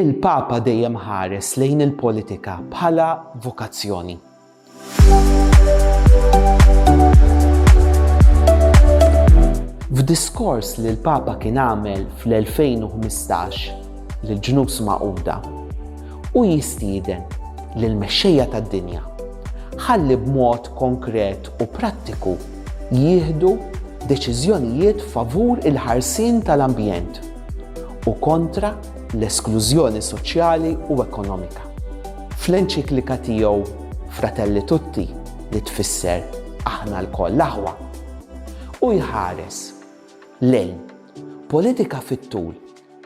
Il-Papa dejjem ħares lejn il-politika bħala vokazzjoni. F'diskors li l-Papa kien għamel fl-2015 lill-Ġnus Magħquda, hu jistieden lil mexxejja tad-dinja ħalli b'mod konkret u prattiku jieħdu deċiżjonijiet favur il-ħarsien tal-ambjent u kontra l-esklużjoni soċjali u ekonomika. Fl-enċiklika tiegħu Fratelli Tutti, li tfisser Aħna lkoll aħwa, hu jħares lejn politika fit-tul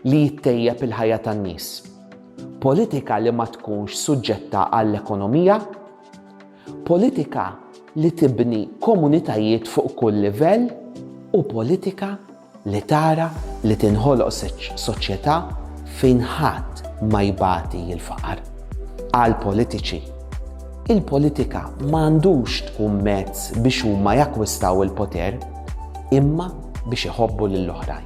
li jittejjeb il-ħajja tan-nies, politika li ma tkunx suġġetta għall-ekonomija, politika li tibni komunitajiet fuq kull livell u politika li tara li tinħoloq soċjetà fejn ħadd ma jbati l-faqar. Għall-politiċi, il-politika ma għandux tkun mezz biex huma jakkwistaw il-poter, imma biex iħobbu lill-oħrajn.